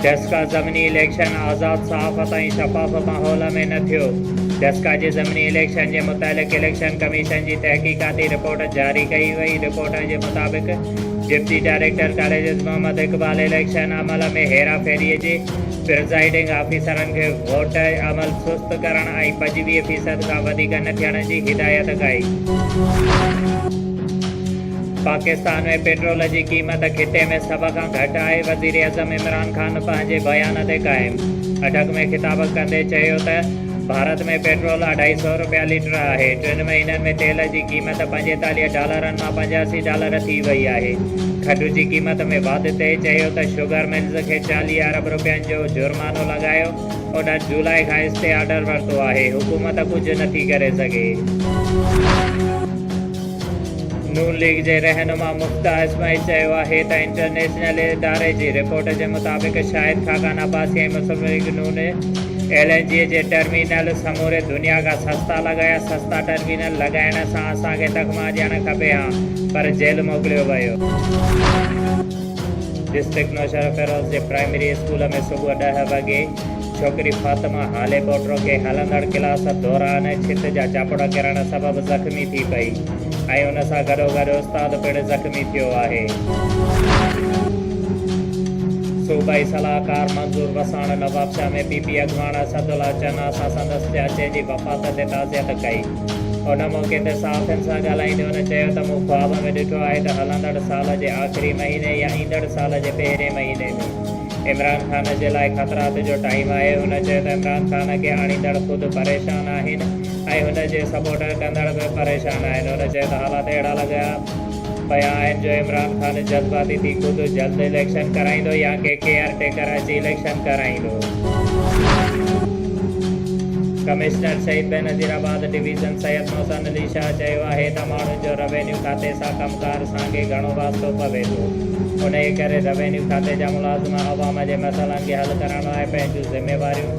دسڪا ضمني اليڪشن آزاد صحافت ۽ شفاف ماحول ۾ نه ٿيو، دسڪا جي ضمني اليڪشن جي متعلق اليڪشن ڪميشن جي تحقيقاتي رپورٽ جاري ڪئي وئي، رپورٽ جي مطابق deputy director colleges Muhammad Iqbal election عمل ۾ هيرا ڦيري جي پرزائيڊنگ آفيسرن کي ووٽ عمل سست ڪرڻ ۽ پنجويهه فيصد کان وڌيڪ نه ٿيڻ جي هدايت ڪئي. پاڪستان ۾ پيٽرول جي قيمت خطي ۾ سڀ کان گهٽ آهي، وزيراعظم عمران خان پنهنجي بيان تي قائم اٽڪ ۾ خطاب ڪندي چيو ته ڀارت ۾ پيٽرول اڍائي سؤ رپيا ليٽر آهي، ٽن مهينن ۾ تيل جي قيمت پنجيتاليهه ڊالرن مان پنجاسي ڊالر ٿي وئي آهي، کٽ جي قيمت ۾ واڌ تي چيو ته شوگر ملز کي چاليهه ارب رپين جو جرمانو لڳايو، انهن جولاء کان اسٽي آرڊر ورتو آهي، حڪومت ڪجهه نٿي ڪري سگهي. نون ليگ جي رهنما مفتاح اسماعيل چيو آهي ته انٽرنيشنل اداري جي رپورٽ جي مطابق شاهد خاقان عباسي ۽ مسلم ليگ نون ايل اين جي جي ٽرمينل سموري دنيا کان سستا لڳايا، سستا ٽرمينل لڳائڻ سان اسان کي تخمه ڏيڻ کپي ها پر جيل موڪليو ويو. ڊسٽرڪٽ نوشهروفيروز جي پرائمري اسڪول ۾ صبح ڏهه وڳي ڇوڪري فاطمه هالي پوٽرو کي هلندڙ ڪلاس دوران ڇت جا چاپڙ ڪرڻ سبب زخمي ٿي پئي ۽ ان سان گڏوگڏ استاد پڻ زخمي ٿيو آهي. صوبائي صلاحڪار منظور وساڻ نوابشاهه ۾ پي پي اڳواڻ اسدالله چنا سان سندس چاچي جي وفات تي تعزيت ڪئي. ان موقعي تي صحافين سان ڳالهائيندي هن چيو ته مون خواب ۾ ڏٺو آهي ته هلندڙ سال جي آخري مهيني يا ايندڙ سال جي پهرين مهيني ۾. عمران خان جي لاء خطرات جو ٽائيم آهي، هن چيو ته عمران خان کي آڻيندڙ خود پريشان آهن ۽ هن جي سپورٽ ڪندڙ به پريشان آهن، هن چيو ته حالات اهڙا لڳا پيا آهن جو عمران خان جذباتي ٿي خود جلد اليڪشن ڪرائيندو يا ڪي ڪيئر ٽيڪر اچي اليڪشن ڪرائيندو. Commissioner Shaheed Benazirabad division Syed Mohsin Ali Shah چيو آهي ته ماڻهن جو روينيو کاتي سان ڪم ڪار سان ڪي گهڻو واسطو پوي ٿو، انهيء ڪري روينيو کاتي جا ملازم عوام جي مسئلن کي حل ڪرڻ لاء پنهنجون ذميواريون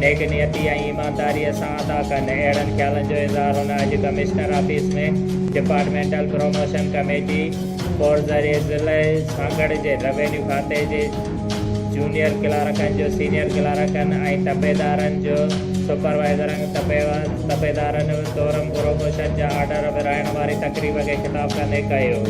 نيڪ نيتي ۽ ايمانداريء سان ادا ڪن، اهڙن خيالن جو اظهار هن اڄ commissioner office ۾ departmental promotion committee ڪور ذريعي ضلعي سانگهڙ جي روينيو کاتي جي جونيئر ڪلارڪن جو سينيئر ڪلارڪن ۽ تپيدارن جو سپروائيزرن تپيدارن سورم پروموشن جا آرڊر ورهائڻ واري تقريب کي خطاب ڪندي ڪيو.